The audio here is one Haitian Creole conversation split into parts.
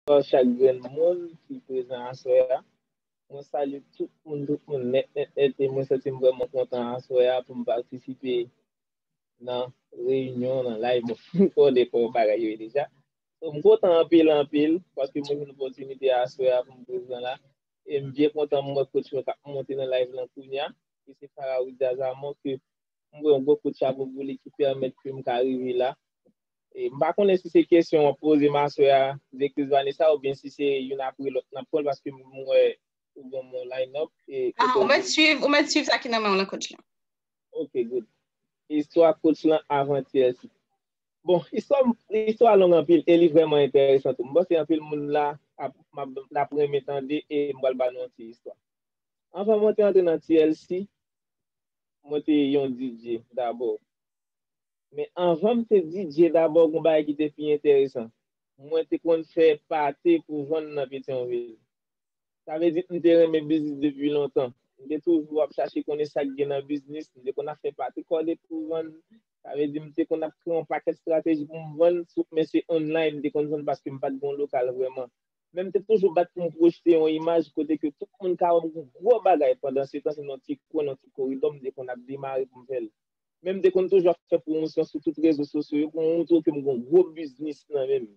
Bonsoir chak grenn moun ki prezan aswè a mwen salye tout moun tout moun nèt nèt nèt e mwen santim vrèman kontan aswè a poum patisipe nan reyinyon nan live mwen fin konnen kòman bagay yo ye deja so m kontan anpil anpil paske mwen jwenn opòtinite aswè a poum prezan la e m byen kontan m wè coach mwen kap monte nan live lan kounya ki se Faraouz Dazamon ke m wè yon gwo kout chapo pou li ki pèmèt ke m ka rive la. E m pa konnen si se kesyon wap poze ma sœur a Directrice Vanessa ou byen si se youn apre lòt nap pranl paske m wè ou banm yon line up e kote Ou mèt swiv ou mèt swiv sa ki nan menw lan Coach lan. Ok good. Istwa Coach lan avantyè si. Bon istwa istwa long anpil e li vrèman enteresan tou. M panse anpil moun la ap ap renmen tande e m pral ba nou yon ti istwa. Anvan mwen te antre nan TLC mwen te yon DJ dabò. Men anvan m te di Dye dabò gon bagay ki te pi enteresan. Mwen te konn fè pate pou vann nan Petyonvil. Sa vle di m te renmen biznis depi lontan. M te toujou ap chache konnen sa k gen nan biznis. M te konn ap fè pate kòde pou vann. Sa vle di m te konn ap kreye yon pakèt estrateji pou m vann sou men se online m te konn vann paske m pa t gen yon lokal vrèman. Men m te toujou bat pou m pwojte yon imaj kote ke tout moun ka wè m gon gwo bagay pandansetan se nan yon ti kwen, nan yon ti koridò m te konn ap demare pou m fè l. men m te konn toujou ap fè pwomosyon sou tout rezo sosyo yo pou m moutre w ke m gen yon gwo biznis nan men m.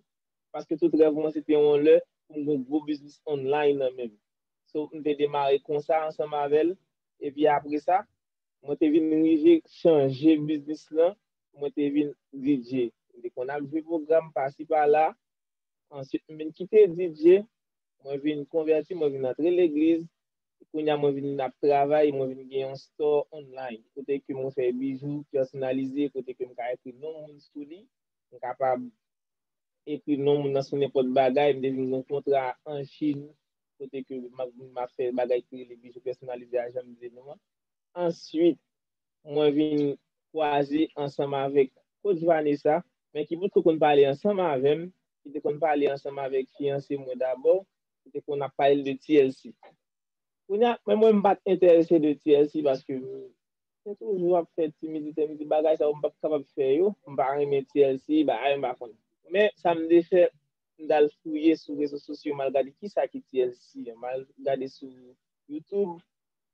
Paske tout rèv mwen se te yon lè pou m gen yon gwo biznis online nan men m. So m te demare konsa ansanm avè l. Epi apre sa, mwen te vin rive chanje biznis lan, mwen te vin DJ. M te konn ap jwe pwogram pasi pala. Ansuit m vin kite DJ, mwen vin konvèti, mwen vin antre legliz. Kounye a mwen vin ap travay, mwen vin gen yon store online kote ke mwen fè bijou pèsonalize kote ke m ka ekri non moun sou li, m kapab ekri non moun nan sou nenpòt bagay, m te vin gen yon kontra an Chin kote ke m ap vin m ap fè bagay ki rele bijou pèsonalize a jan m di nou an. Answit, mwen vin kwaze ansanm avèk Coach Vanessa, men ki potko konn pale ansanm avè m, ki te konn pale ansanm avèk fiyanse mwen dabò, ki te konn ap pale de TLC. Kounye a, menm mwen m pa t enterese de TLC paske m te toujou ap fè timidite, m di bagay sa yo m pa p kapab fè yo, m pa renmen TLC, bagay m pa konn. Men, sa m te fè, m t al fouye sou rezo sosyo, m al gade ki sa ki TLC, m al gade sou YouTube,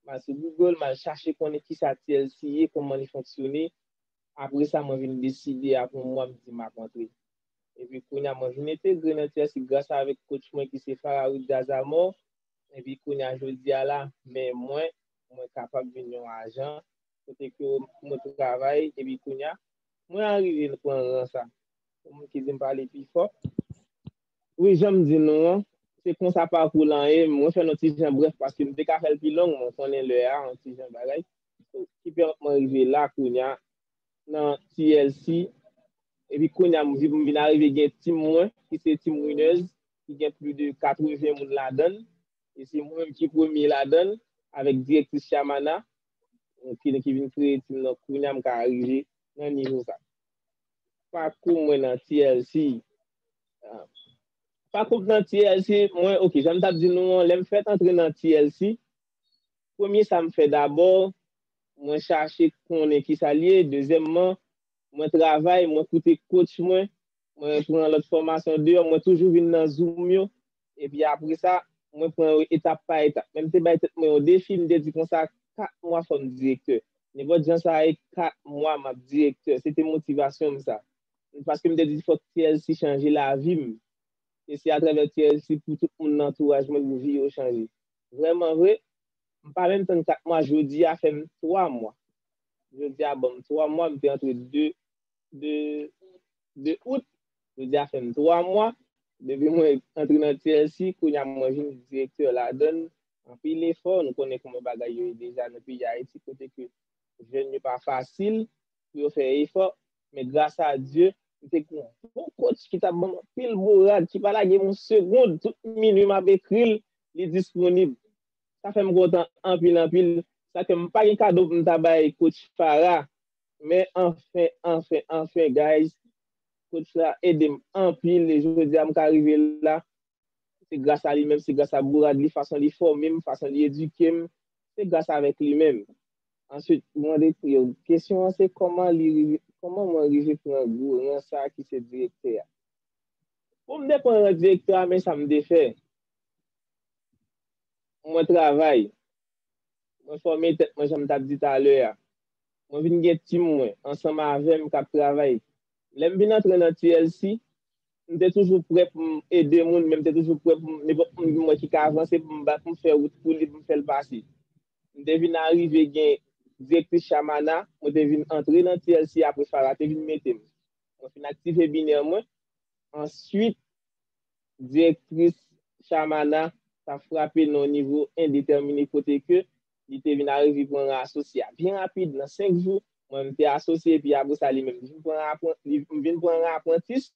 m al sou Google, m al chache konnen ki sa TLC ye, kòman li fonksyone, apre sa mwen vin deside apre yon mwa m di m ap antre. Epi kounya mwen vin entegre nan Chelsea gras avèk coach mwen ki se Faraoui Djazamo. Epi kounya jodi a la, men mwen, mwen kapab vin yon ajan kote ke mwen travay epi kounya mwen arive nan pran ran sa. Gen moun ki di m pale pi fò. Wi, jan m di nou an, se konsa pakou lan ye. Mwen fè l yon ti jan brèf paske m te ka fè l pi long, men w konnen lè a, yon ti jan bagay. Ki pèmèt mwen rive la kounya. nan TLC epi kounye a m vin arive gen team mwen ki se team Winners ki gen plis de 80 moun ladan l e se mwen menm ki premye ladan l avèk direktris Shyamana ki vin kreye team nan kounye a m ka arive nan nivo sa. Pakou mwen nan TLC Pakou m nan TLC mwen ok jan m t ap di nou an lè m fèt antre nan TLC premye sa m fè dabò mwen chache konnen kisa l ye, dezyèmman, mwen travay, mwen koute coach mwen, mwen pran lòt fòmasyon deyò, mwen toujou vin nan zoom yo, epi apre sa, mwen pran yo etap pa etap. Men m te bay tèt mwen yon defi, m te di konsa, 4 mwa fò m direktè. Nenpòt jan sa ye, 4 mwa m ap direktè. Se te motivasyon m sa. Paske m te di fòk TLC chanje lavi m. E se atravè TLC pou tout moun nan antouraj mwen pou vi yo chanje. Vrèman vre, m pa menm tann 4 mwa jodi a fè m 3 mwa jodi a banm 3 mwa m te antre 2 2 out jodi a fè m 3 mwa depi mwen antre nan TLC kounye a mwen vin direktè ladann anpil efò nou konnen kouman bagay yo ye deja nan peyi Ayiti kote ke jèn yo pa fasil pou yo fè efò men gras a Dye m te gen yon bon kotch ki t ap banm anpil bourad ki pa lage m yon segond tout minui m ap ekri l li disponib Sa fèm kontan anpil anpil. Sa ke m pa gen kado pou m ta bay coach Farah. Men anfen, anfen, anfen guys coach la ede m anpil e jodi a m ka rive la se gras a li menm, se gras a bourad li, fason li fòme m, fason li edike m, se gras avèk li menm. Answit m mande pou yo kesyon an se kòman li rive, kòman mwen rive pran gou ran sa ki se direktè a. Pou m te pran ran direktè a men sa m te fè. Mwen travay. Mwen fòme tèt mwen janm tap di talè a. Mwen vin gen team mwen ansanm avèm kap travay. Lèm vin antre nan TLC, m te toujou prè poum ede moun men m te toujou prè poum nenpòt moun vin wè ki ka avanse poum bat poum fè wout pou li poum fèl pase. M te vin arive gen Direktris Shamana, mwen te vin antre nan TLC apre Farah te vin metem. Mwen fin aktive biner mwen. Answit. Direktris Shamana ta frape nan yon nivo endetèmine kote ke li te vin arive pran ran asosye a byen rapid nan 5 jou. Mwen menm te asosye epi apre sa li menm li vin pran ran apranti, li vin pran ran aprantis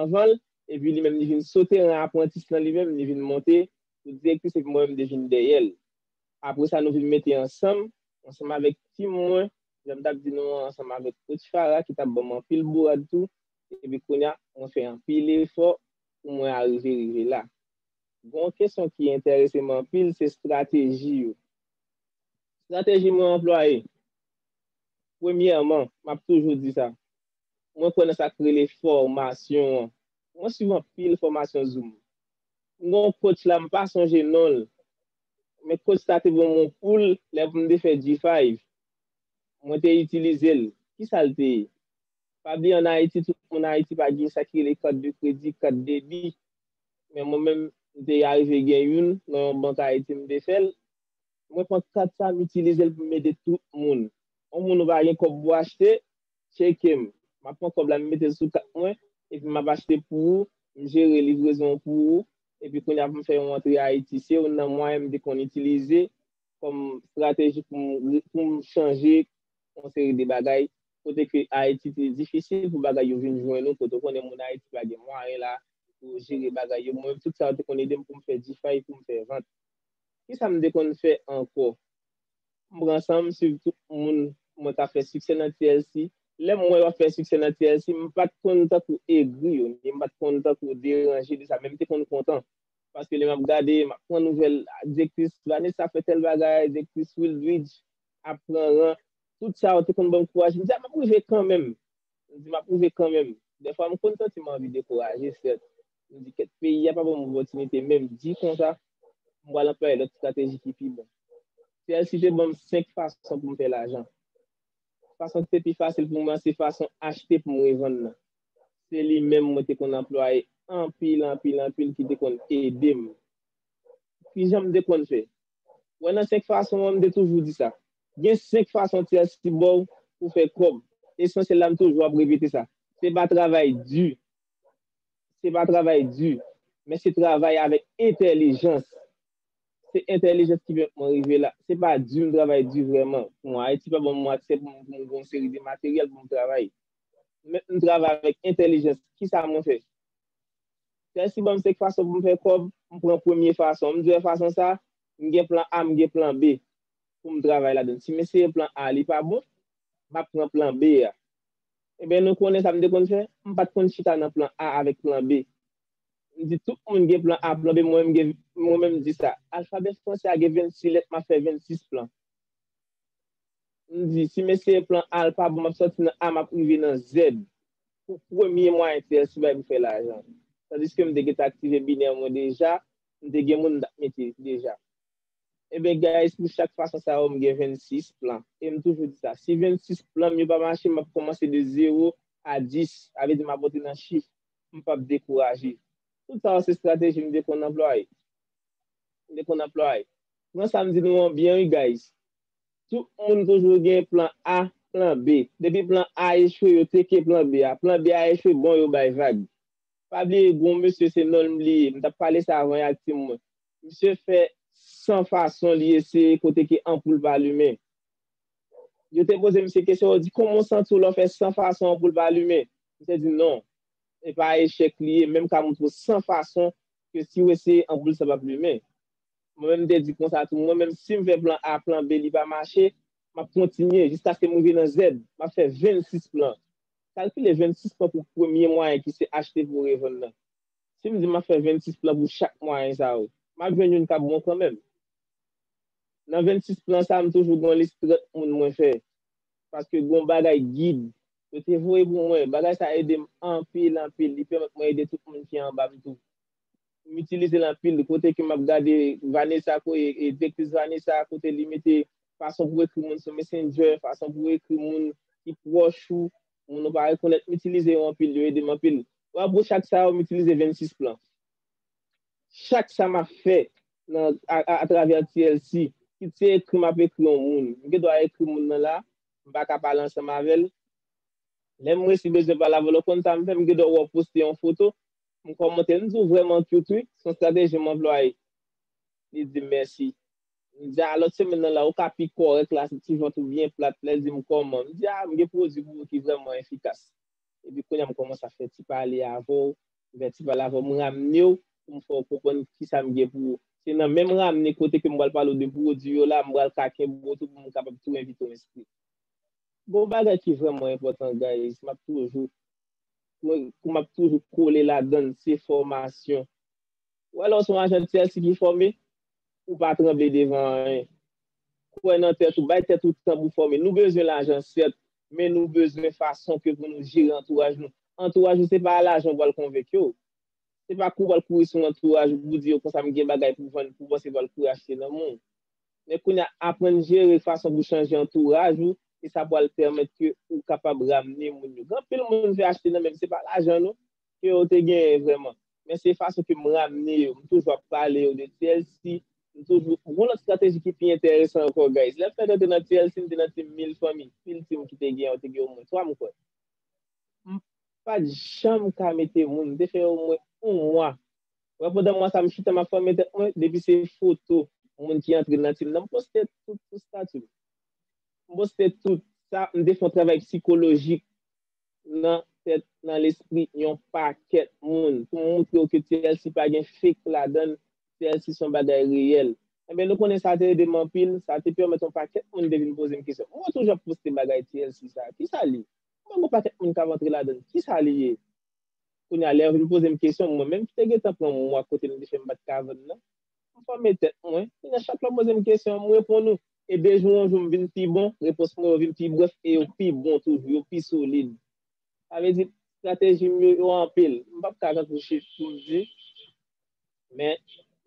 anvan l epi li menm li vin sote ran aprantis lan li menm li vin monte pou direktris epi mwen menm te vin dèyè l. Apre sa nou vin mete ansanm, ansanm avèk team mwen, jan m t ap di nou an, ansanm avèk Coach Farah ki t ap ban m anpil bourad tou. epi kounye a mwen fè anpil efò pou mwen arive rive la. Gen yon kesyon ki enterese m anpil se estrateji yo. Estrateji mwen anplwaye, premyèman, m ap toujou di sa, mwen kwè nan sa k rele fòmasyon an. Mwen swiv anpil fòmasyon zoom. M gen yon coach la m pa sonje non l, men coach sa te ban m yon poul lè pou m te fè G-Five. Mwen te itilize l. Kisa l te ye? Pa bliye an Ayiti tout moun Ayiti pa gen sa ki rele kat de kredi, kat debi. Men mwen menm m te arive gen youn nan yon bank Ayiti m te fè l. Mwen pran kat sa m itilize l pou m ede tout moun. On moun ou pa gen kòb pou achte, tcheke m. M ap pran kòb la m mete l sou kat mwen epi m ap achte pou ou, m jere livrezon an pou ou epi kounye a pou m fè yon antre Ayiti. Se youn nan mwayen m te konn itilize kòm estrateji pou m chanje yon seri de bagay kote ke Ayiti te difisil pou bagay yo vin jwenn ou, kote ou konnen moun Ayiti pa gen mwayen la pou jere bagay yo. Mwen menm tout sa yo te konn ede m pou m fè difay, pou m fè vant. Ki sa m te konn fè ankò? M pran san m swiv tout moun mwen ka fè siksè nan TLC. Lè m wè yo ap fè siksè nan TLC, m pa t konn tankou egri yo, ni m pa t konn tankou deranje de sa, men m te konn kontan. Paske lè m ap gade, m ap pran nouvèl, a direktris Vanessa fè tèl bagay, direktris Wildridge ap pran ran. Tout sa yo te konn ban m kouraj. M di a, m ap rive kanmenm. M di m ap rive kanmenm. Dèfwa m konn santi m anvi dekouraje, sèt. M di kèt, peyi a pa ban m opòtinite, men m di konsa, m pral anplwaye lòt estrateji ki pi bon. TLC te ban m senk fason pou m fè lajan. Fason ki te pi fasil pou mwen, se fason achte pou m revann nan. Se li menm mwen te konn anplwaye anpil, anpil, anpil ki te konn ede m. Ki jan m te konn fè? Wè nan 5 fason an m te toujou di sa. Gen 5 fason ti asi ba w pou fè kòb. Esansyèl la m toujou ap repete sa. Se pa travay di. Se pa travay di. Men se travay avèk entèlijans. Se entèlijans ki pèmèt mwen rive la. Se pa di m travay di vrèman. Pou mwen Ayiti pa ban m aksè pou m gen yon seri de materyèl pou m travay. Men m travay avèk entèlijans. Kisa mwen fè? Sèl si banm 5 fason poum fè kòb, m pran premye fason. M diw fason sa, m gen plan A, m gen plan B poum travay ladann. Sim eseye plan A li pa bon, map pran plan B a. Enben nou konnen sam te konn fè, m pat konn chita nan plan A avèk plan B. M di tout moun gen plan A, plan B, mwen menm gen, mwen menm di sa. Alfabè fransè a gen 26 lèt, map fè 26 plan. M di sim eseye plan A l pa bon, map sòti nan A map rive nan Z. pou premye mwayen TSU bay pou fè lajan. Tandiske m te gentan aktive binè mwen deja, m te gen moun m t ap mete deja. Enben guys pou chak fason sa yo m gen 26 plan. E m toujou di sa, si 26 plan m yo pa mache m ap kòmanse de zewo a 10, sa vle di m ap monte nan chif, m p ap dekouraje. Tout sa yo se strateji m te konn anplwaye. M te konn anplwaye. Pran sa m di nou an byen wi guys. Tout moun toujou gen plan A, plan B. Depi plan A echwe yo teke plan B a. Plan B a echwe bon yo bay vag. Pa bliye gon mesye se nonl m bliye, m tap pale sa avan yak team mwen. Misye fè san fason li eseye kote ke anpoul pa limen. Yo te poze misye kesyon yo di kòman w santi w lè w fè san fason anpoul pa limen? Misye di non, epa echèk li ye menm ka montre w san fason ke si w eseye anpoul sa pap limen. Mwen menm m te di konsa tou, mwen menm si m fè plan A, plan B li pa mache, m ap kontinye jiskaske m rive nan Z, m ap fè 26 plan. Kalkile 26 plan pou premye mwayen ki se achte pou revann nan. Si m di m ap fè 26 plan pou chak mwayen sa yo, m ap jwenn youn k ap bon kanmenm. Nan 26 plan sa a, m toujou gen yon lis 30 moun mwen fè paske gen yon bagay gid yo te voye pou mwen. Bagay sa a ede m anpil anpil, li pèmèt mwen ede tout moun ki anba m tou. m itilize l anpil kote ke m ap gade Vanessa Koye e Direktris Vanessa kote li mete fason pou ekri moun sou Messenger, fason pou ekri moun ki pwòch ou, moun ou pa rekonèt, m itilize yo anpil, yo ede m anpil. Wa bro chak sa yo m itilize 26 plan. Chak sa m ap fè nan atravè TLC, kit se ekri m ap ekri yon moun, m gen dwa ekri moun nan la, m pa ka pale ansanm avè l, lè m resi bezwen pale avè l ou konn sa m fè, m gen dwa wè w poste yon foto, M kòmante, m di w vrèman cute wi, s on strateji m anplwaye. Li di m mèsi. M di a lòt semèn nan la ou ka pi kòrèk la, ti vant ou byen plat. Lè l di m kòman, m di a m gen pwodui pou ou ki vrèman efikas. Epi kounye a m kòmanse ap fè ti pale avè w, m fè ti pale avè w, m ramne w pou m fè w konprann kisa m gen pou ou. Se nan menm ramne kote ke m pral pale w de pwodui yo la, m pral ka kenbe w tou pou m kapab tou envite w enskri. Gon bagay ki vrèman enpòtan guys, m ap toujou mwen kou map toujou kole ladann se fòmasyon. Wè lè w son ajan Chelsea ki fòme, ou pa tranble devan anyen. Kwè nan tèt ou, bay tèt ou tan pou fòme. Nou bezwen lajan sèt, men nou bezwen fason ke pou nou jere antouraj nou. Antouraj ou se pa a lajan ou pral konvenk yo. Se pa kou pral kouri sou antouraj ou pou di yo konsa m gen bagay pou vann pou panse pral kouri achte nan men w. Men kounya aprann jere fason pou chanje antouraj ou e sa pwal pèmèt ke ou kapab ramne moun yo. Gen anpil moun vle achte nan men se pa lajan non ke yo te genyen vrèman. Men se fason ke m ramne yo. M toujou ap pale yo de TLC, m toujou, gon lòt strateji ki pi enteresan ankò guys. Lè m fèt antre nan TLC m te nan team mil fanmi, pil team ki te genyen yo te gen omwen 3 m kwè. M pat janm ka mete moun, m te fè omwen 1 mwa Wè pandan mwa sa m chita map fòme tèt mwen depi se foto moun ki antre nan team nan m poste tout sou stati m. M poste tout sa m te fon travay psikolojik nan tèt nan lespri yon pakèt moun pou m moutre w ke TLC pa gen fake ladann TLC son bagay reyèl. Enben nou konnen sa te ede m anpil sa te pèmèt yon pakèt moun te vin poze m kesyon mwen toujou ap poste bagay TLC sa kisa li? Mwen gen yon pakèt moun kap antre ladann kisa li ye? Kounye a, lè yo vin poze m kesyon, mwen menm ki te gentan pran mwa kote m te fè m pa t ka vann nan, m fòme tèt mwen. Kounye a, chak lè yo poze m kesyon, m reponn ou. E de jou an jou, m vin pi bon, repons mwen yo vin pi brèf e yo pi bon toujou, yo pi solid. Sa vle di, estrateji m yo, yo anpil. M pap ka rantre chif pou m di, men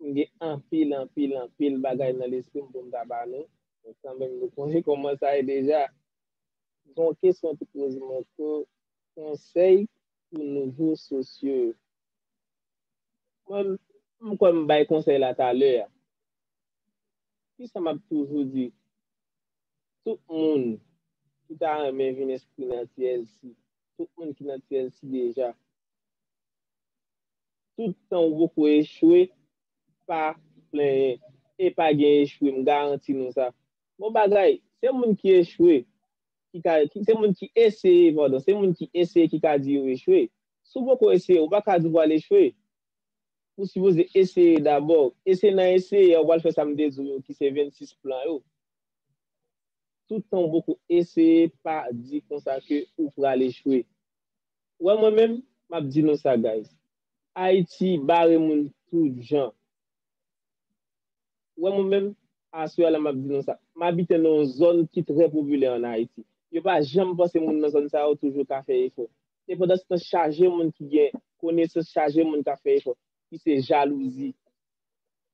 m gen anpil, anpil, anpil bagay nan lespri m pou m ta ba nou, men kanmenm nou sonje kòman sa ye deja. Gen yon kesyon ki poze m ankò, konsèy pou nouvo sosyo yo. Mwen, m kwè m bay konsèy la talè a. Kisa m ap toujou di tout moun ki ta renmen vin enskri nan TLC, tout moun ki nan TLC deja, tout tan ou poko echwe, pa plenyen. E pa gen echwe, m garanti nou sa. Bon bagay, se moun ki echwe ki ka, se moun ki eseye, padon, se moun ki eseye ki ka di yo echwe. Si w poko eseye, ou pa ka di w pral echwe. Ou sipoze eseye dabò. E se nan eseye a ou pral fè sa m te di w yo ki se 26 plan yo. Tout tan ou poko eseye, pa di konsa ke ou pral echwe. Ou wè mwen menm, m ap di nou sa guys. Ayiti bare moun tout jan. wè mwen menm, aswè a la m ap di nou sa, m abite nan yon zòn ki trè popilè an Ayiti. Yo pa janm panse moun nan zòn sa yo toujou ka fè efò. E pandanstan chaje moun ki gen konesans, chaje moun k ap fè efò, ki se jalouzi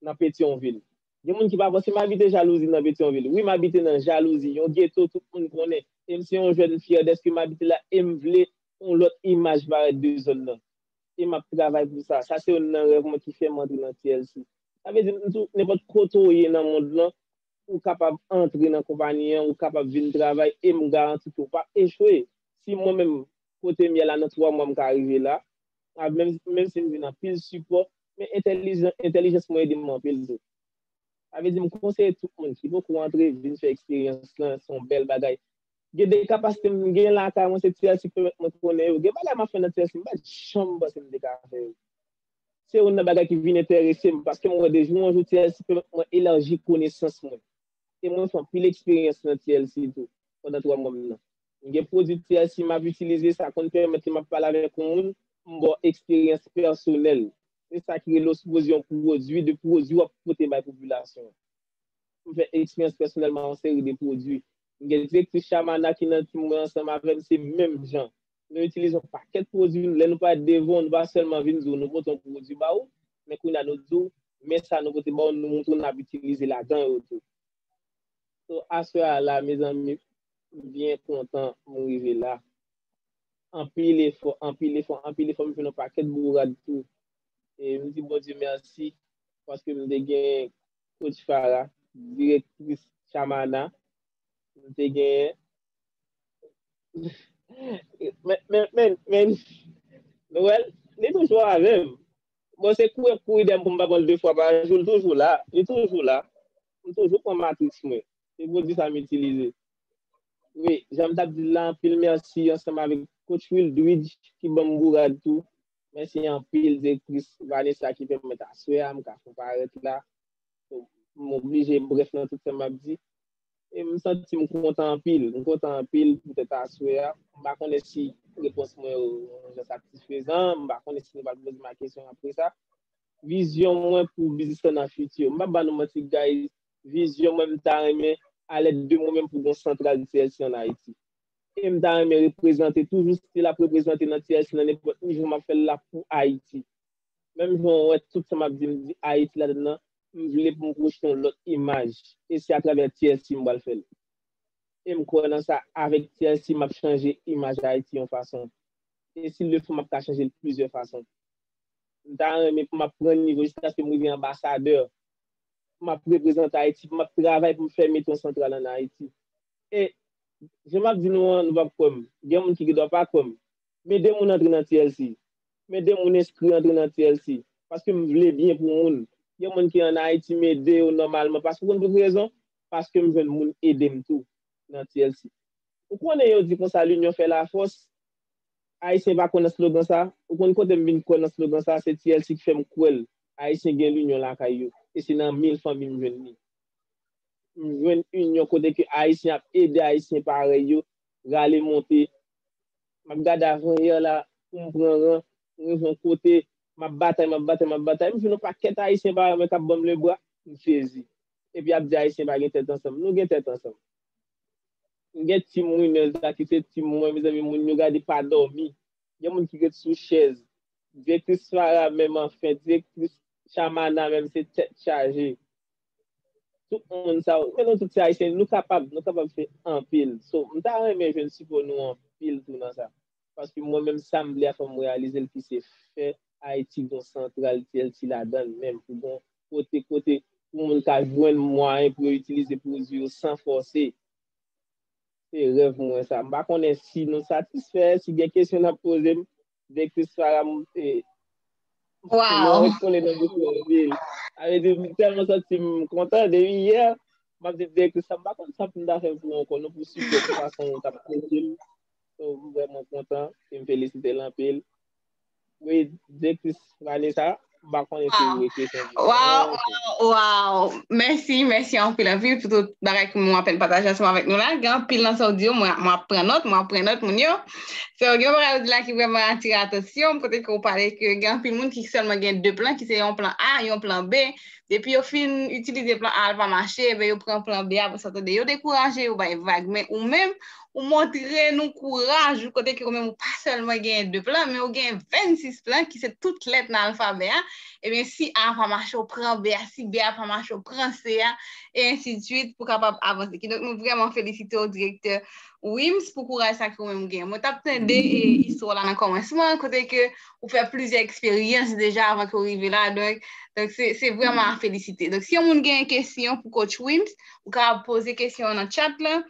nan Petyonvil. Gen moun ki pa panse m abite jalouzi nan Petyonvil. Wi, m abite nan jalouzi, yon geto tout moun konnen. E m se yon jèn fyè dèske m abite la e m vle yon lòt imaj parèt de zòn nan. E m ap travay pou sa. Sa se youn nan rèv mwen ki fè m antre nan TLC. Sa vle di tou, nenpòt kote ou ye nan mond lan, ou kapab antre nan konpayi an, ou kapab vin travay e m garanti ke ou pa p echwe. Si mwen menm, kote m ye la nan 3 mwa m ka rive la, menm si m jwenn anpil sipò, men entèlijans mwen ede m anpil tou. Sa vle di m konseye tout moun ki poko antre vin fè eksperyans lan, se yon bèl bagay. Gen de kapasite m gen lakay mwen se TLC ki pèmèt mwen konnen yo. Gen bagay m ap fè nan TLC m pa t janm panse m te ka fè yo. se youn nan bagay ki vin enterese m paske m wè de jou an jou TLC pèmèt mwen elarji konesans mwen e mwen fè anpil eksperyans nan TLC tou pandan 3 mwa m nan. M gen pwodui TLC m ap itilize, sa konn pèmèt lè m ap pale avèk yon moun m ba w eksperyans pèsonèl. Se sa ki rele osmoze yon pwodui de pwodui w ap pote bay popilasyon an. M fè eksperyans pèsonèl ma yon seri de pwodui. M gen direktris Shamana ki nan tim mwen ansanm avè m se menm jan. nou itilize yon pakèt pwodwi, lè nou pale devan ou, nou pa sèlman vin di ou nou pote yon pwodwi ba ou, men kounye a nou di ou, men sa nou pote ba ou, nou montre ou n'ap itilize ladan yo tou. So, aswè a la, mezanmi, m byen kontan m rive la. Anpil efò, anpil efò, anpil efò, m jwenn yon pakèt bourad tou. E m di Bondye mèsi, paske m te gen Coach Farah, direktris Chamana, m te gen, Men, men, men, men, Noël, li toujou avè m. Bon, se kou pou idem pou m pa pran l de fwa pa jou, li toujou la, li toujou la. M toujou pran matrix mwen. Se pwodui sa m itilize. Wi, jan m t ap di l la, anpil mèsi ansanm avèk coach Wildridge ki ban m bourad tou. Mèsi anpil direktris Vanessa ki pèmèt aswè a m ka fon parèt la. M oblije brèf nan tout sa m ap di. E m santi m kontan anpil. M kontan anpil poutèt aswè a. M pa konnen si repons mwen yo yon jan satisfezan. M pa konnen si nou pral poze m a kesyon apre sa. Vizyon mwen pou biznis lan nan fiti. M p ap ba nou manti guys, vizyon mwen m ta renmen a lèt de mwen menm pou gon santral TLC an Ayiti. E m ta renmen reprezante toujou stil ap reprezante nan TLC nan nenpòt nivo m ap fè l la pou Ayiti. Menm jan w wè tout sa m ap di m di Ayiti ladann nan, M vle pou m pwoche yon lòt imaj e se atravè TLC m pral fè l. E m kwè nan sa, avèk TLC m ap chanje imaj Ayiti yon fason. E si l le fò m ap ka chanje l plizyè fason. M ta renmen pou m ap pran nivo jiskaske m rive anbasadè, pou m ap reprezante Ayiti, pou m ap travay pou m fè metro santral an Ayiti. E, jan m ap di nou an, nou p ap kwè m, gen moun ki gen dwa pa kwè m, men 2 moun antre nan TLC, Men de moun enskri antre nan TLC. Paske m vle byen pou moun. Gen moun ki an Ayiti m ede yo nòmalman. Paske ou konn pou ki rezon? Paske m jwenn moun ede m tou nan TLC. Ou konnen yo di konsa linyon fè lafòs. Ayisyen pa kwè nan slogan sa. Ou konn kote m vin kwè nan slogan sa? Se TLC ki fè m kwè l. Ayisyen gen linyon lakay yo. E se nan mil fanmi m jwenn li. M jwenn inyon kote ke Ayisyen ap ede Ayisyen parèy yo rale monte. Map gade avanyè la poum pran ran pou rive yon kote map batay map batay map batay m jwenn yon pakèt ayisyen pa renmen kap banm lebra m sezi epi yap di ayisyen pa gen tèt ansanm nou gen tèt ansanm m gen team winners la ki se team mwen mezanmi moun yo gade pa dòmi gen moun ki ret sou chèz direktris Farah menm anfen direktris Shamana menm se tèt chaje. Tout moun sa yo, nou tout se Ayisyen, nou kapab, nou kapab fè anpil. So, m ta renmen jwenn sipò nou anpil tou nan sa. Paske mwen menm sa m vle a fò m reyalize l ki se fè Ayiti gon santral TLC ladan l menm pou gon kote kote pou moun ka jwenn mwayen pou yo itilize pwodui yo san fòse. Se rèv mwen sa. M pa konnen si nou satisfè, si gen kesyon n ap poze m. Direktris Farah monte. Wow. Mwen ret kole nan bouch mwen ri. A ve di, m tèlman santi m kontan depi yè. M ap di direktris sa m pa konn sa pou m ta fè pou ou ankò non pou sipò pou fason ou t ap trete m. So m vrèman kontan e m felisite l anpil. Wi, direktris Vanessa. Mpa konnen si ou rete san di Waw, waw, waw, mèsi, mèsi anpil anpil pou tout bagay ke mwen apen pataje ansanm avèk nou la. Gen anpil nan sa ou di yo mwen ap pran nòt, mwen ap pran nòt moun yo. So gen yon bagay ou di la ki vreman atire atansyon m, kote ke ou pale ke gen anpil moun ki sèlman gen 2 plan ki se yon plan A, yon plan B. Depi yo fin itilize plan A a l pa mache, yo pran plan B a, sa ta de yo dekouraje, yo bay vag. Men ou menm, Ou montre nou kouraj ou kote ke ou menm ou pa sèlman genyen 2 plan, men ou genyen 26 plan ki se tout lèt nan alfabè a. Ebyen si A pa mache ou pran B a, si B a pa mache ou pran C a, e ensi de swit pou kapab avanse. Kidonk nou vrèman felisite ou Direktè Wim's pou kouraj sa ke ou menm ou genyen. Mwen t ap tande istwa w la nan kòmansman an kote ke ou fè plizyè eksperyans deja avan ke ou rive la, donk se vrèman a felisite. Donk si yon moun genyen kesyon pou Coach Wim's, ou kapab poze kesyon an nan chat lan,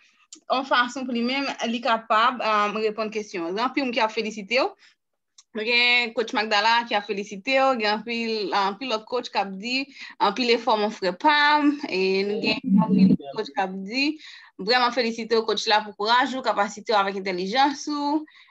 yon fason pou li menm, li kapab reponn kesyon. Gen anpil moun ki ap felisite w. Nou gen coach Magdala ki ap felisite w, gen anpil anpil lòt coach k ap di anpil efò mon frè pa m, e nou gen anpil lòt coach k ap di vrèman felisite w coach la pou kouraj ou, kapasite w avèk entèlijans ou.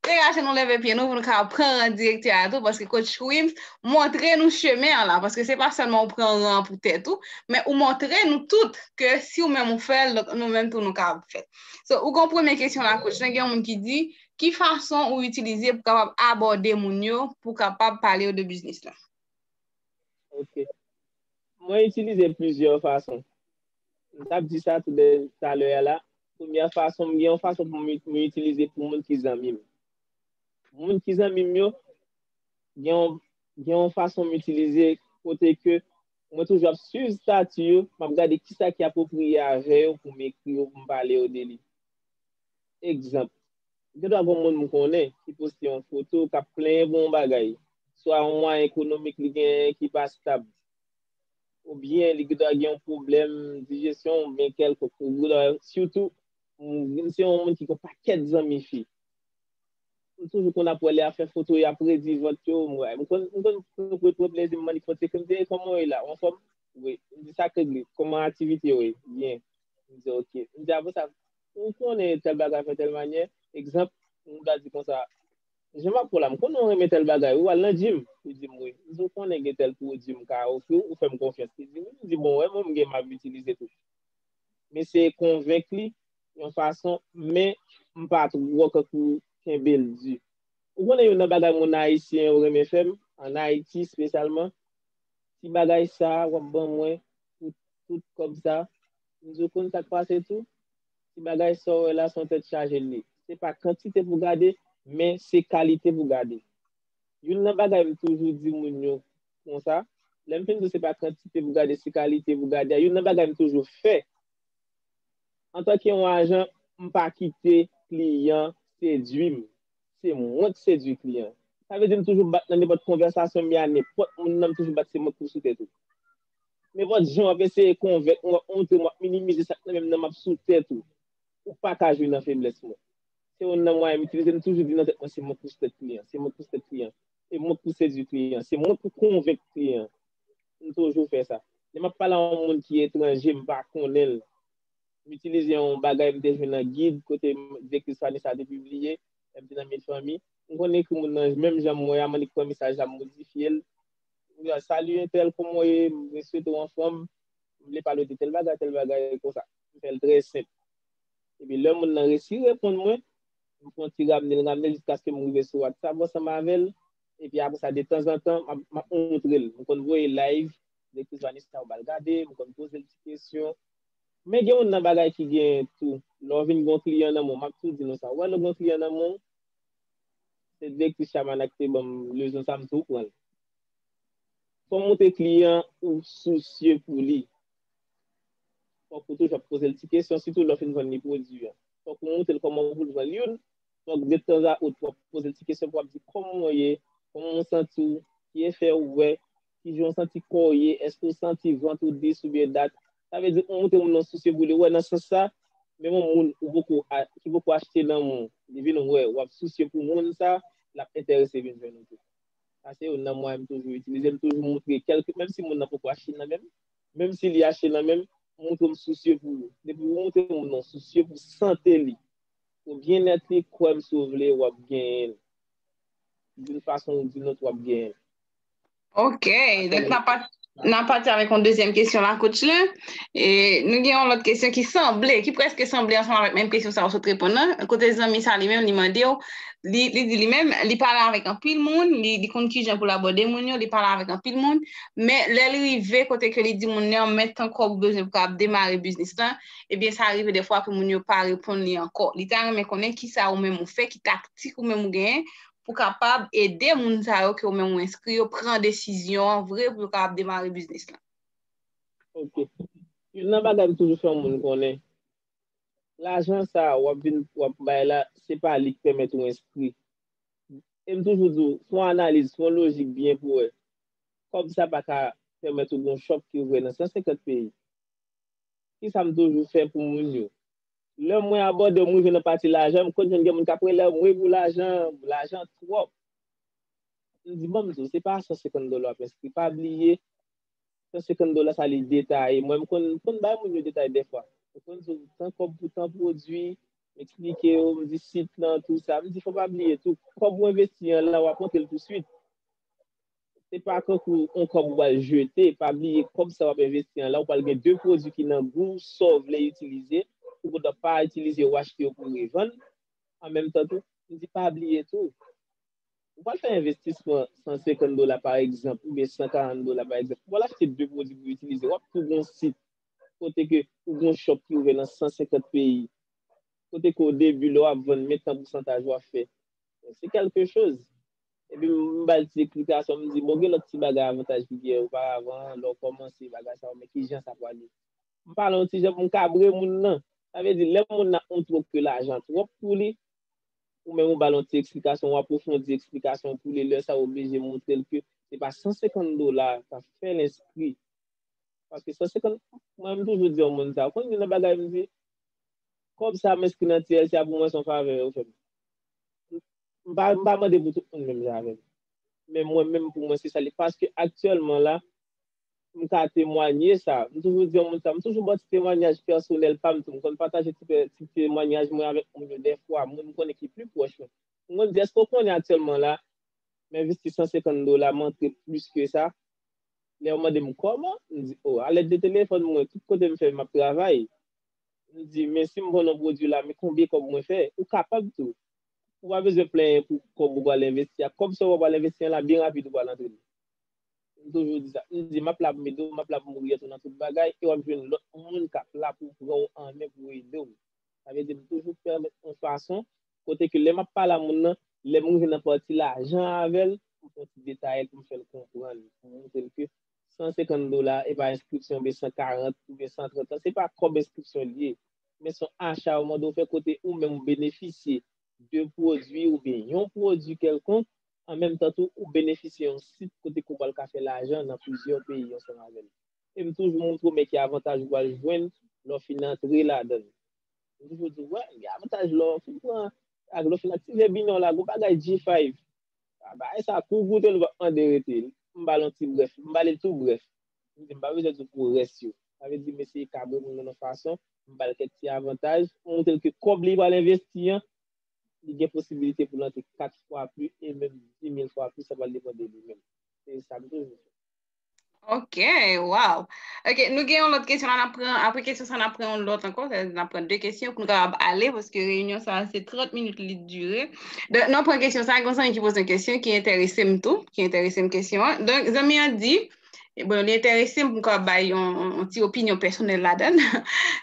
Deraje nou leve pye nou pou nou ka pran ran direktè a tou paske coach Wim's montre nou chemen an la paske se pa sèlman ou pran ran an pou tèt ou men ou montre nou tout ke si ou menm ou fè l donk nou menm tou nou kapab fè l. So ou gen yon premye kesyon la coach lan gen yon moun ki di ki fason ou itilize pou kapab abòde moun yo pou kapab pale yo de biznis lan? Ok. Mwen itilize plizyè fason. M t ap di sa tou de talè a la, premyè fason, gen yon fason pou mwen itilize pou moun ki zanmi m. Moun ki zanmi m yo, gen yon fason m itilize kote ke mwen toujou ap swiv stati yo, m ap gade ki sa ki apwopriye avè yo pou m ekri yo, pou m pale yo de li. Egzanp, gen dwa gen yon moun m konnen ki poste yon foto k ap plenyen pou yon bagay, swa yon mwayen ekonomik li genyen ki pa stab. oubyen li gendwa gen yon pwoblèm dijesyon oubyen kèlkonk sitou m se yon moun ki gen yon pakèt zanmi fi m toujou konn ap wè lè yap fè foto yo ap redi vant yo m wè m konn m konn pran twòp plezi m mande kòmantè epi m di kòman ou ye la ou anfòm wi m di sak regle kòman aktivite yo ye byen li di ok m di apre sa ou konnen tèl bagay fè tèl manyè egzanp m ta di konsa. Jan map pran la m konnen ou renmen tèl bagay wi wal nan gym li dim wi m di ou konnen gen tèl pwodwi m ka ofriw ou fèm konfyans li dim wi m di bon wè mwen m gen map itilize tou m eseye konvenk li yon fason men m pa twò kankou kenbel di ou konnen youn nan bagay moun ayisyen yo renmen fèm an ayiti spesyalman ti bagay sa wap ban mwen pou tout kòb sa m di ou konn sak pase tou Ti bagay sa w wè la son tèt chaje l ye. Se pa kantite pou gade, men se kalite pou gade. Youn nan bagay m toujou di moun yo konsa, lè m fin di w se pa kantite pou gade, se kalite pou gade a, youn nan bagay m toujou fè, antanke yon ajan, m pa kite kliyan sedui m. Se mwen k sedui kliyan. Sa vle di m toujou bat nan nenpòt konvèsasyon m ye a, nenpòt moun nan m toujou bat se mwen k pouse tèt ou. Nenpòt jan w ap eseye konvenk mwen, w ap montre m, w ap minimize sa k nan men m nan, m ap sou tèt ou. Ou pa ka jwi nan feblès mwen. Se youn nan mwayen m itilize, m toujou di nan tèt mwen se mwen k pou strèt kliyan, se mwen k pou strèt kliyan, se mwen k pou sedui kliyan, se mwen k pou konvenk kliyan. M toujou fè sa. Lè m ap pale a yon moun ki etranje, m pa konnen l, m itilize yon bagay m te jwenn nan gid kote direktris fanmi sa a te pibliye lè m te nan Mil Fanmi. M konn ekri moun nan menm jan m wè a, m annik pran mesaj la m modifye l, Salut Intel, kòman ou ye? Mwen swete ou anfòm. Mwen vle pale ou de tèl bagay, tèl bagay konsa. Mwen fè l trè senp. Epi lè moun nan resi reponn mwen, mwen fè yon ti ramne l ramne l jiskaske m rive sou WhatsApp ansanm avè l. Epi apre sa, de tanzantan, m ap montre l. Mwen konn voye live Direktris Vanessa yo ba l gade, mwen konn poze l ti kesyon. Men gen yon nan bagay ki genyen tou, lè w vin gen yon kliyan nan men w, m ap tou di nou sa, ou wè lè w gen yon kliyan nan men w, Se direktris Shabana ki te ban m lezon sa a, m tou pran l. Kòm ou te kliyan, ou sousye pou li. Fòk ou toujou ap poze l ti kesyon, sitou lè w fin vann li pwodui an. Fòk ou montre l kòman pou l vann youn, fòk detanzanot w ap poze l ti kesyon pou w ap di w kòman w ye, kòman w santi w, ki efè ou wè, kijan w santi kò w ye, èske w santi vant ou dis oubyen dat. Sa vle di ou montre moun nan sousye pou li wè nan sans sa, menm yon moun ou poko ki poko achte lanmou, li vin wè w ap sousye pou moun sa, l ap enterese vin jwenn ou tou. Sa se youn nan mwayen m toujou itilize, m toujou montre kèlke menm si moun nan poko achte nan men m, menm si li achte nan men m, m montre m sousye pou li. Depi ou montre moun nan w sousye pou sante li, pou byennèt li, kwè m si w vle w ap genyen l. Doun fason ou doun lòt w ap genyen l. Ok, dèk nan pa... Nan pati avèk yon dezyèm kesyon la kouch la, e nou gen yon lòt kesyon ki sanble, ki preske sanble ansanm avèk menm kesyon sa ou sot reponn nan, kote zanmi sa li menm li mande ou, li di li menm li pale avèk anpil moun, li konn kijan pou l abòde moun yo, li pale avèk anpil moun, men lè l rive kote ke li di moun nan men tan kòb ou bezwen pou kab demare biznis lan, ebyen sa rive dèfwa ke moun yo pa reponn li ankò. Li ta renmen konnen kisa ou menm ou fè, ki taktik ou menm ou genyen pou kapab ede moun sa yo ke ou menm ou enskri yo pran desizyon an vre pou yo kapab demare biznis lan. Ok. Youn nan bagay m toujou fè moun konnen, lajan sa a w ap vin w ap bay la, se pa li k pèmèt ou enskri. E m toujou di w, fè yon analiz, fè yon lojik byen pou wè. Kòb sa pa ka pèmèt ou gen yon chòp ki ouvè nan 150 peyi. Kisa m toujou fè pou moun yo? Lè mwen abòde mwen rive nan pati lajan m konn jwenn gen moun kap rele m wi pou lajan lajan twòp m di banm di w se pa 150 dola wap enskri pa bliye 150 dola sa li detaye mwen m konn m konn bay moun yo detay dèfwa m konn di w tan kòb pou tan pwodui m eksplike yo m di sit lan tou sa m di fò pa bliye tou kòb ou envesti an la wap monte l tou swit Se pa kankou on kòb ou pral jete, pa bliye kòb sa wap envesti an la ou pral gen 2 pwodwi ki nan gou w sa w vle itilize, ou gen dwa pa itilize ou achte yo pou revann, an menm tan tou, m di pa bliye tou, ou pral fè envestisman 150 dola pa egzanp oubyen 140 dola pa egzanp, ou pral achte 2 pwodwi pou itilize, wap tou gen on sit kote ke ou gen on shop ki ouvè nan 150 peyi, kote ke o debi lè wap vann men tan pousantaj wap fè, se kelke choz. Epi m ba l ti eksplikasyon, m di, bon gen lòt ti bagay avantaj ki gen oparavan, lè w kòmanse bagay sa yo, men ki jan sa pral ye. M pale yon ti jan pou m kabre moun nan. Sa vle di, lè moun nan ap kontwop ke lajan twòp pou li, ou menm ou ba l yon ti eksplikasyon, w apwofondi eksplikasyon w pou li, lè sa w oblije montre l ke se pa 150 dola k ap fè l enskri. Paske 150, mwen m toujou di yon moun sa, ou konn youn nan bagay m di, kòb sa m enskri nan TLC a pou mwen se yon favè yo fè m. M pa mande pou tout moun menm jan avè m. Men mwen menm pou mwen se sa li ye. Paske aktyèlman la, m ka temwanye sa. M toujou di yon moun sa. M toujou ba ti temwanyaj pèsonèl pa m tou. M konn pataje ti temwanyaj mwen avèk moun yo dèfwa. Moun m konnen ki pli pwòch mwen. M konn di, èske ou konnen aktyèlman la, m envesti 150 dola, m antre plis ke sa. Lè yo mande m kòman, m di, o, a lèd de telefòn mwen, tout kote m fè m ap travay. M di, men si m vann yon pwodui la, men konbyen kòb mwen fè? Ou kapab tou. ou pa bezwen plenyen pou kòb ou pral envesti a. Kòb sa ou pral envesti an la byen rapid ou pral antre li. M toujou di sa. M di m ap la pou m ede w, m ap la pou m oryante w nan tout bagay e w ap jwenn lòt moun k ap la pou pran w an men pou ede w. Sa vle di m toujou pèmèt yon fason kote ke lè m ap pale a moun nan, lè m rive nan pati lajan avè l, m fè yon ti detayel pou m fè l konprann, pou m montre l ke 150 dola e pa enskripsyon be 140 oubyen 130 lan, se pa kòb enskripsyon li ye, men son acha ou mande ou fè kote ou menm ou benefisye de pwodui oubyen yon pwodui kèlkonk, an menm tan tou ou benefisye yon sit kote ke ou pral ka fè lajan nan plizyè peyi ansanm avè l. E m toujou montre ou men ki avantaj ou pral jwenn lè w fin antre ladan l. M toujou di w, wè, gen avantaj lè w fin pran ak lè w fin aktive Binance la, gen yon bagay G5. Bagay sa kou goute li pap mande rete m ba l yon ti brèf m ba li l tou brèf m di m pa bezwen di w pou rès yo sa vle di m eseye kabre moun nan yon fason m ba l kèk ti avantaj m montre l ke kòb li pral envesti an li gen posibilite pou l antre 4 fwa pli e menm 10 mil fwa plis sa pral depan de li menm se sa m toujou fè. Ok, waw. Ok, nou gen yon lòt kesyon la nan pran, apre kesyon sa nan pran yon lòt ankon, sa nan pran 2 kesyon pou nou kapab ale, paske reyinyon sa se 30 minit li dure. Donk, nan pran kesyon sa, gonsan yon ki pose yon kesyon ki enterese m tou, ki enterese m kesyon an. Donk, zanmi an di, bon, li enterese m pou ka bay yon ti opinyon pèsonèl ladan.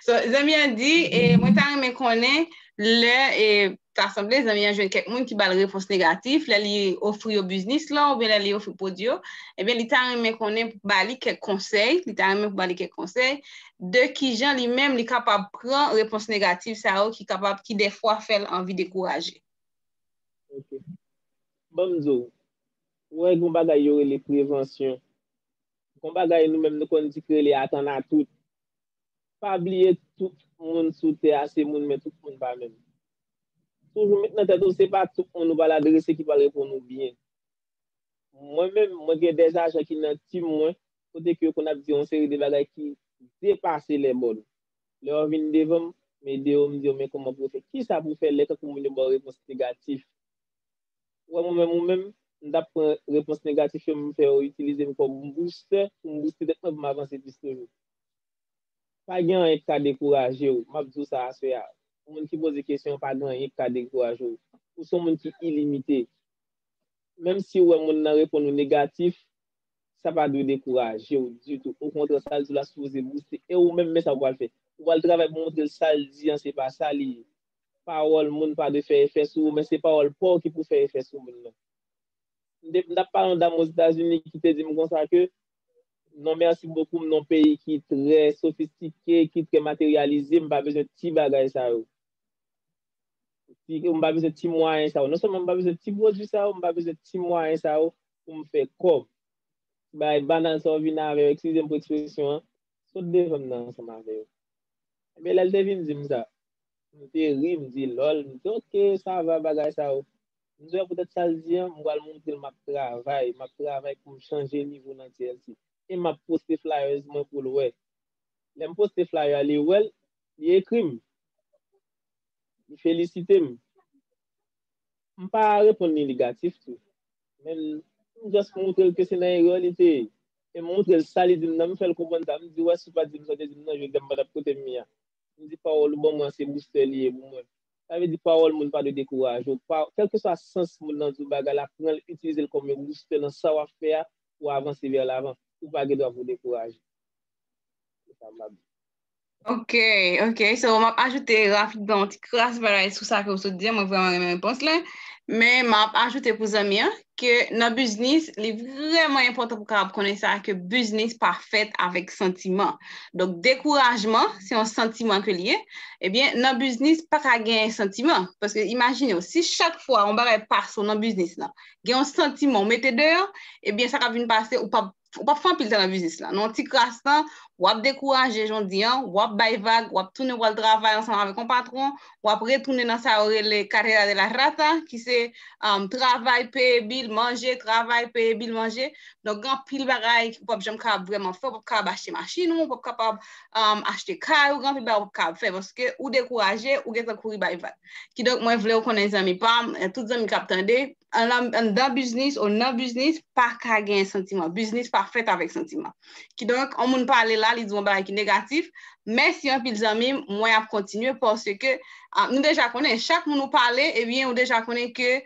So, zanmi an di, mwen ta renmen konnen lè e... Ta sanble zanmi an jwenn kèk moun ki ba l repons negatif lè li ofri yo biznis lan oubyen lè li ofri pwodui yo, ebyen li ta renmen konnen pou ba li kèk konsèy, li ta renmen pou ba li kèk konsèy de kijan li menm li kapab pran repons negatif sa yo ki kapab ki dèfwa fè l anvi dekouraje. Ok. Ban m di w, ou wè gen yon bagay yo rele prevansyon. Gen yon bagay nou menm nou konn di ki rele atann a tout. Pa bliye tout moun sou tè a se moun men tout moun pa menm. Toujou met nan tèt ou se pa tout moun ou pral adrese ki pral reponn ou byen. Mwen menm, mwen gen de ajan ki nan team mwen kote ke yo konn ap di yon seri de bagay ki depase lè bòn. Lè yo vin devan m, m ede yo, m di yo men kòman pou yo fè, kisa pou fè lè tankou moun yo ba w repons negatif. Ou wè mwen menm ou menm, m ta pran repons negatif yo m fè yo itilize m kòm boustè pou m bouste tèt mwen pou m avanse plis toujou. Pa gen anyen k ka dekouraje w. M ap di w sa aswè a, pou moun ki poze kesyon an, pa gen anyen ki ka dekouraje w. Ou se yon moun ki ilimite. Menm si ou wè monn nan reponn ou negatif, sa pa dwe dekouraje w ditou. Okontrè, sa l di w la sipoze bouste. E ou menm, men sa ou pral fè. Ou pral travay pou montre l sa l di an se pa sa li ye. Pawòl moun pa dwe fè efè sou ou, men se pawòl pa w ki pou fè efè sou moun nan. M t ap pale yon dam Ozetazini ki te di m konsa ke Non merci beaucoup m non peyi ki trè sofistike ki trè materyalize m pa bezwen ti bagay sa yo m pa bezwen ti mwayen sa yo non sèlman m pa bezwen ti pwodwi sa yo m pa bezwen ti mwayen sa yo pou m fè kòb ti bagay banal sa yo vin avè yo eskize m pou ekspresyon an sot devan m nan ansanm avè yo enbyen lè l te vin di m sa m te ri m di lòl m di ok sa va bagay sa yo Mzè pou tèt sal di an, mpral montrel map travay, map travay poum chanje nivo nan TLC e map poste flyers mwen poul wè. Lèm poste flyer a li wèl, li ekrim, li felisitem. Mpa reponn li negatif tou, men m just moutrel ke se nan erè li te ye e m moutrel sa li dim nan mfèl konprann sa, mdi wè si w pa dim sa w te dim nan jodi a m patap kotem ye a. Mdi pawòl ou ban mwen an se boustè li ye pou mwen. Sa vle di pawòl moun pa dwe dekouraje w. Kèlkeswa sans moun nan di w bagay la, pran l, itilize l kòm yon boustè nan sa w ap fè a pou w avanse vè lavan. Ou pa gen dwa pou w dekouraje. Se sa m ap di. Ok, ok. So, m ap ajoute rapidman yon ti kras bagay sou sa ke ou sot di an. Mwen vrèman renmen repons la. Men, m ap ajoute pou zanmi an. ke nan biznis li vrèman enpòtan pou kapab konnen sa ke biznis pa fèt avèk santiman. Donk dekourajman se yon santiman ke li ye, ebyen eh nan biznis pa ka gen santiman paske imajine w si chak fwa yon bagay pase w nan biznis lan gen yon santiman ou mete deyò, ebyen sa k ap vin pase ou p ap ou pap fè anpil tan nan biznis la, nan yon ti kras tan, wap dekouraje jondi an, wap bay vag, wap tounen wal travay ansanm avèk yon patwon, wap retounen nan sa yo rele carrera de la rata, ki se travay, peye bil, manje, travay, peye bil, manje, donk gen anpil bagay ou pap janm kapab vrèman fè, ou pap kapab achte machin ou, ou pap kapab achte kay ou, gen anpil bagay ou pap kapab fè, paske ou dekouraje, ou gentan kouri bay vag. Kidonk mwen vlew konnen zanmi pam, tout zanmi kap tande, anndan biznis ou nan biznis pa ka gen santiman. Biznis pa fèt avèk santiman. Kidonk, yon moun pale la, li di yon bagay ki negatif, mèsi anpil zanmi m, mwen ap kontinye paske nou deja konnen, chak moun ou pale, ebyen ou deja konnen ke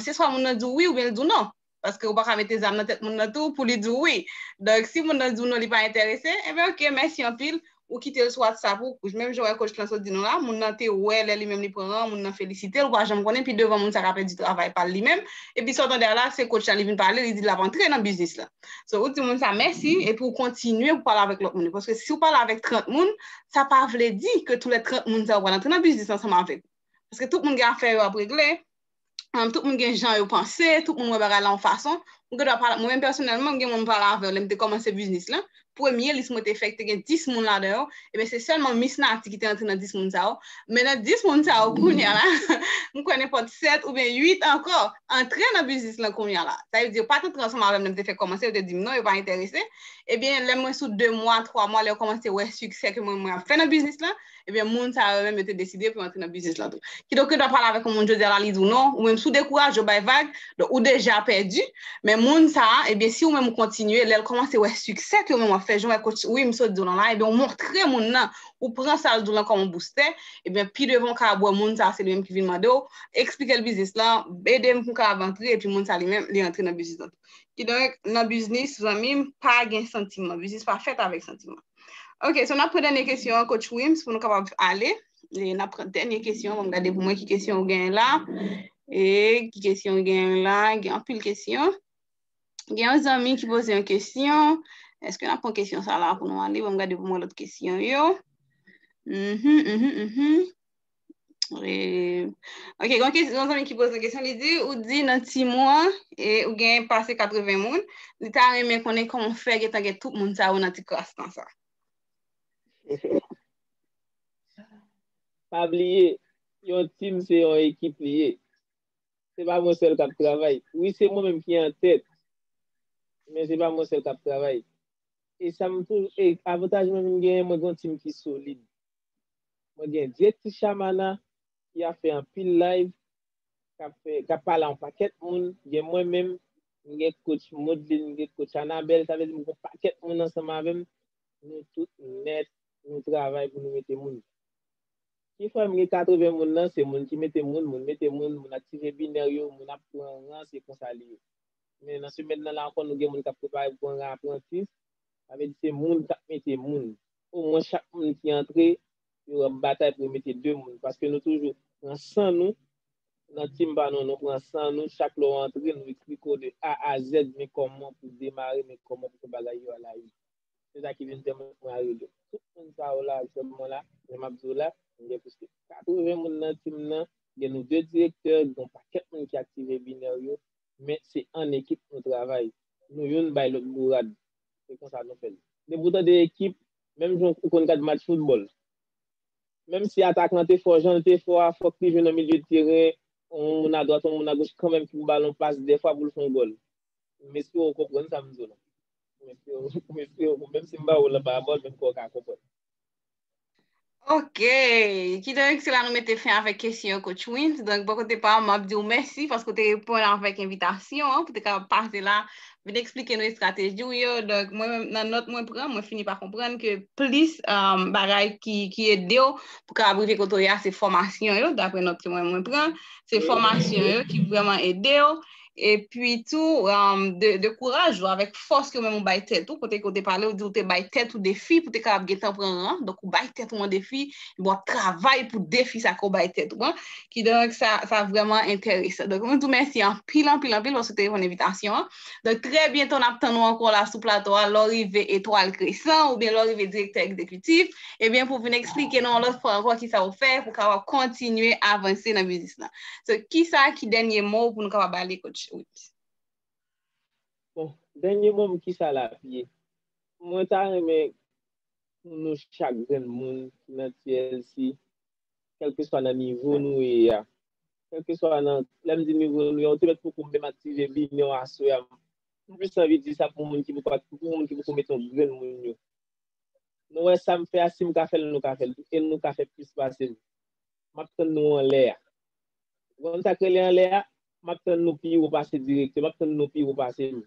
se swa moun nan di w wi oubyen l di w non. Paske ou pa ka mete zam nan tèt moun nan tou pou li di w wi. Donk, si moun nan di w non li pa enterese, enben ok, mèsi anpil, ou kitel sou WhatsApp ou, menm jan wè coach lan sot di nou la, moun nan te wè lè li menm li pran an, moun nan felisitel, ou pa janm konnen pi devan moun sa ka pèdi travay pal li menm, epi sa w tande a la se coach la li vin pale li di lap antre nan biznis lan. So ou di moun sa mèsi epi ou kontinye pou pale avèk lòt moun yo paske si ou pale avèk 30 moun sa pa vle di ke tou lè 30 moun sa yo pral antre nan biznis ansanm avèk ou paske tout moun gen afè yo ap regle. tout moun gen jan yo panse, tout moun wè bagay la yon fason, ou gen dwa pale, mwen menm pèsonèlman m gen moun m pale avè yo lè m te kòmanse biznis lan, premye lis mwen te fè ki te gen 10 moun ladan yo, eben se sèlman Mis Nati ki te antre nan 10 moun sa yo, men nan 10 moun sa yo kounya la, m kwè nenpòt 7 oubyen 8 ankò antre nan biznis lan kounya la, sa vle di yo pa t antre ansanm avè m lè m te fèk kòmanse, yo te di m non yo pa enterese, eben lè mwen sou 2 mwa, 3 mwa, lè yo kòmanse wè siksè ke mwen mwen ap fè nan biznis lan. Ebyen moun sa yo menm yo te deside pou yo antre nan biznis lan tou. Kidonk yo ta pale avèk yon moun jodi a la li di w non, ou menm si w dekouraje ou bay vag, donk ou deja pèdi, men moun sa a ebyen si ou menm ou kontinye lè l kòmanse wè siksè ke ou menm w ap fè jan w wè kotch wi m sot di w lan la ebyen ou montre moun nan, ou pran sa l di w lan kòm yon boustè, ebyen pi devan ou ka wè moun sa a se li menm ki vin mande w, eksplike l biznis lan, ede m pou m kapab antre epi moun sa a li menm li antre nan biznis lan tou. Kidonk nan biznis zanmi m pa gen santiman, biznis pa fèt avèk santiman. Ok, so n ap pran dènye kesyon an coach Wim's pou nou kapab ale. E n ap pran dènye kesyon, m gade pou mwen ki kesyon ou gen la. E ki kesyon ou gen la, gen anpil kesyon. Gen yon zanmi ki poze yon kesyon. Eske n ap pran kesyon sa la pou nou ale? M gade pou mwen lòt kesyon yo. Mm -hmm, mm -hmm, mm -hmm. Ok, yon kèsi yon zanmi ki pose yon kèsi, li di, ou di nan ti mwa, e ou gen pase 80 moun, li ta renmen konnen kòman fè gen tan gen tout moun sa yo nan ti klas tan sa. Pa bliye, yon team se yon ekip li ye. Se pa mwen sèl kap travay. Wi se mwen menm ki an tèt, men se pa mwen sèl kap travay. E sa m tou, e avantaj mwen menm genyen, mwen gen yon team ki solid. Mwen gen 2 ti shamana ki ap fè anpil live kap fè kap pale a yon pakèt moun gen mwen menm m gen coach Modeline m gen coach Anabelle sa vle di m gon pakèt moun ansanm avèm nou tout nèt nou travay pou nou mete moun ki fè m gen 80 moun nan se moun ki mete moun moun mete moun moun aktive binèr yo moun ap pran ran se konsa li ye men nan semèn nan la ankò nou gen moun kap prepare pou pran ran aprantis sa vle di se moun kap mete moun o mwen chak moun ki antre yo ap batay pou yo mete 2 moun paske nou toujou pran san nou nan team pa nou nou pran san nou chak lè w antre nou ekri ko de A a Z men kòman pou demare men kòman pou fè bagay yo ala yi se sa ki vin fè mwen pran rele tout moun sa yo la aktyèlman mwen la jan m ap di w la mwen gen plis ke 80 moun nan team nan gen nou 2 direktè gen yon pakèt moun ki aktive binèr yo men se an ekip nou travay nou youn bay lòt bourad Se konsa nou fè l. Depi ou tande ekip, menm jan ou konn gad match foutbòl, menm si atak lan te fò, jan l te fò a, fòk li jwe nan milye teren, yon moun adwat, yon moun agoch kanmenm pou balon pase dèfwa pou l fè yon gòl. M espere ou konprann sa m di w la. M espere ou, m espere ou, menm si m ba ou l anba abòd, menm ke w ka konprann. Ok, kidonk se la nou mete fen avèk kesyon yo Coach Wens. Donk bò kote pa m, m ap di w mèsi paske w te reponn avèk envitasyon an pou w te kapab pase la, vin eksplike nou estrateji w yo. Donk mwen menm nan nòt mwen pran, mwen fini pa konprann ke plis bagay ki ede w pou w kapab rive kote w ye a se fòmasyon yo, daprè nòt ke mwen menm mwen pran, se fòmasyon yo ki vrèman ede w. epi tou de kouraj ou avèk fòs ke ou menm ou bay tèt ou, kote ke ou te pale ou di ou te bay tèt ou defi pou te kapab gen tan pran ran, donk ou bay tèt ou an defi, epi wap travay pou defi sa ke ou bay tèt ou an, kidonk sa vrèman enteresan. Donk mwen di w mèsi anpil, anpil, anpil paske ou te reponn envitasyon an. Donk trè byento nap tann ou ankò la sou plato a lè w rive Etwal Kresan oubyen lè w rive Direktè Egzekitif, ebyen pou w vin eksplike nou yon lòt fwa ankò kisa ou fè pou w kapab kontinye avanse nan biznis lan. So, ki sa ki dènye mo w pou nou kapab ale kot Chewit? Bon, dènye mo m ki sa l ap ye? Mwen ta renmen pou nou chak grenn moun ki nan TLC, kèlkeswa nan nivo nou ye a, kèlkeswa nan, lè m di nivo nou ye a, ou te mèt poko menm aktive linyon a aswè a, m plis anvi di sa pou moun ki poko ak, pou moun ki poko mete yon grenn moun yo. Nou wè sa m fè a, si m ka fè l, nou ka fè l tou, e nou ka fè plis pase m. map tann nou anlè a. Ou konn sak rele anlè a? Map tann nou pi wo pase direktè, map tann nou pi wo pase m.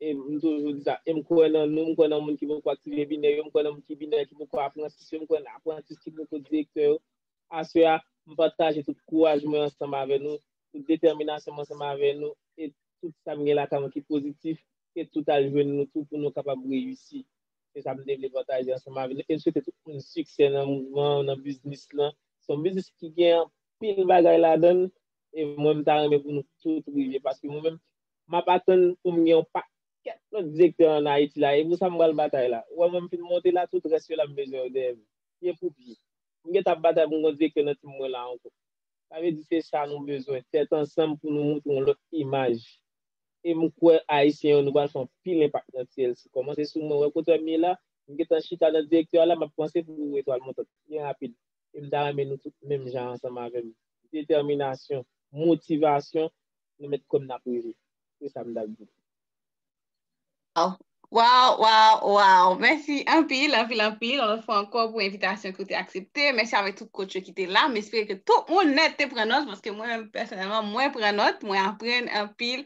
E m toujou di sa, e m kwè nan nou, m kwè nan moun ki poko aktive binè yo, m kwè nan moun ki binè ki poko aprantis yo, m kwè nan aprantis ki poko direktè yo. Aswè a, m pataje tout kouraj mwen ansanm avè nou, tout detèminasyon mwen ansanm avè nou, e tout sa m gen lakay mwen ki pozitif, ke tout al jwenn nou tou pou nou kapab reyisi. e sa m te vle pataje ansanm avè nou e m swete tout moun siksè nan mouvman an, nan biznis lan se yon biznis ki gen anpil bagay ladan l e mwen m ta renmen pou nou tout rive paske mwen menm m ap atann pou m gen yon pakèt lòt direktè an Ayiti la e pou sa m pral batay la ou wè mwen m fin monte la tout rès yo la m bezwen yo dèyè m pye pou pye m gentan ap batay pou m gon direktè nan tim mwen la ankò sa vle di se sa nou bezwen tèt ansanm pou nou montre yon lòt imaj. e m kwè ayisyen yo nou pral fè yon pil enpak nan TLC kòmanse sou mwen wè kote m ye la m gentan chita nan direktè a la m ap panse pou yon etwal montant byen rapid e m ta renmen nou tout menm jan ansanm avè m detèminasyon motivasyon nou mèt kwè m n ap rive se sa m t ap di. Waw, waw, waw, mèsi anpil, anpil, anpil, yon lòt fwa ankò pou envitasyon ke ou te aksepte. Mèsi avèk tout kotch yo ki te la. M espere ke tout moun nèt te pran nòt, paske mwen menm pèsonèlman, mwen pran nòt, mwen aprann anpil,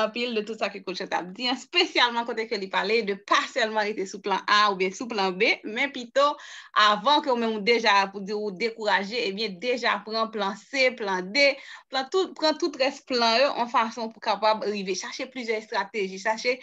anpil de tout sa ke kotch la t ap di an, spesyalman kote ke li pale de pa sèlman rete sou plan A oubyen sou plan B, men pito avan ke ou menm ou deja pou di ou dekouraje, ebyen deja pran plan C, plan D. pran tout rès plan yo an fason pou kapab rive. Chache plizyè estrateji, chache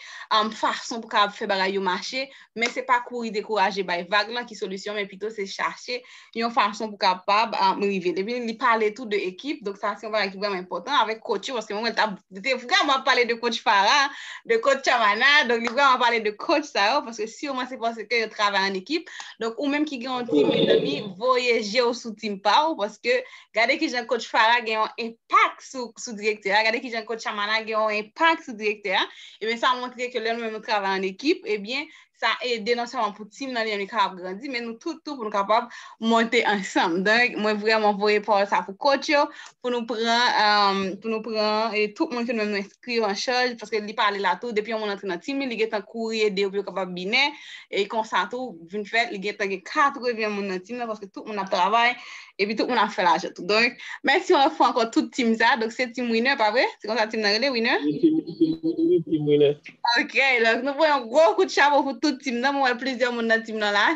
fason pou kapab fè bagay yo mache, men se pa kouri dekouraje bay vag lan ki solisyon, men pito se chache yon fason pou kapab rive. Depi li pale tou de ekip, donk sa se yon bagay ki vreman enpotan avèk coach yo, paske mwen wè li te vreman pale de coach Farah, de coach Chamana, donk li vreman pale de coach sa yo, paske siman se paske yo travay an ekip, donk ou menm ki gen yon team mezanmi, voye je ou sou team pa ou, paske. Gade ki jan coach Farah gen yon enpak sou direktè a, gade ki jan coach Shamana gen yon enpak sou direktè a, ebyen sa montre ke lè nou menm nou travay an ekip, ebyen sa ede non sèlman pou team nan li menm li kapab grandi, men nou tout tou pou nou kapab monte ansanm. Donk mwen vrèman voye pawòl sa pou coach yo, pou nou pran, pou nou pran tout moun ke nou menm nou. priyo an chaj, paske li pale la tou, depi yon moun antre nan team li, li gentan kouri ede yo pou yo kapab bine, e konsa tou, vin fè, li gentan gen 80 moun nan team nan, paske tout moun ap travay, epi tout moun ap fè lajan tou. Donk, mèsi yon lòt fwa ankò tout team sa, donk se team winner, pa vre? Se konsa team nan rele, winner? Wi, team winner. Ok, donk nou voye yon gwo kout chapo pou tout team nan, mwen wè plizyè moun nan team nan la,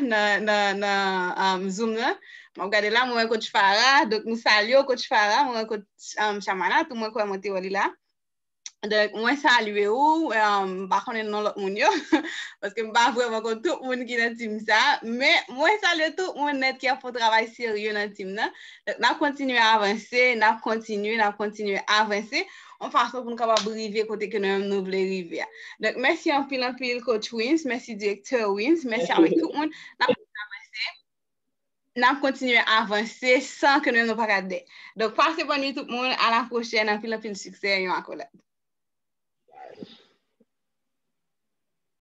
nan zoom nan, map gade la, mwen wè coach Farah, donk nou salye w coach Farah, mwen wè coach. Chamanal tou mwen kwè mwen te wè li la. Donk mwen salye ou, m pa konnen non lòt moun yo, paske m pa vrèman konn tout moun ki nan team sa, men mwen salye tout moun nèt ki ap fè yon travay serye nan team nan. Donk n ap kontinye avanse, n ap kontinye, n ap kontinye avanse, yon fason pou nou kapab rive kote ke nou menm nou vle rive a. Donk mèsi anpil anpil coach Wim's, mèsi direktè Wim's, mèsi avèk tout moun, n ap kontinye avanse. n ap kontinye avanse san ke nou pa ka de. Donk pase bòn nwit tout moun, a la pwochèn, anpil anpil siksè yon akolad.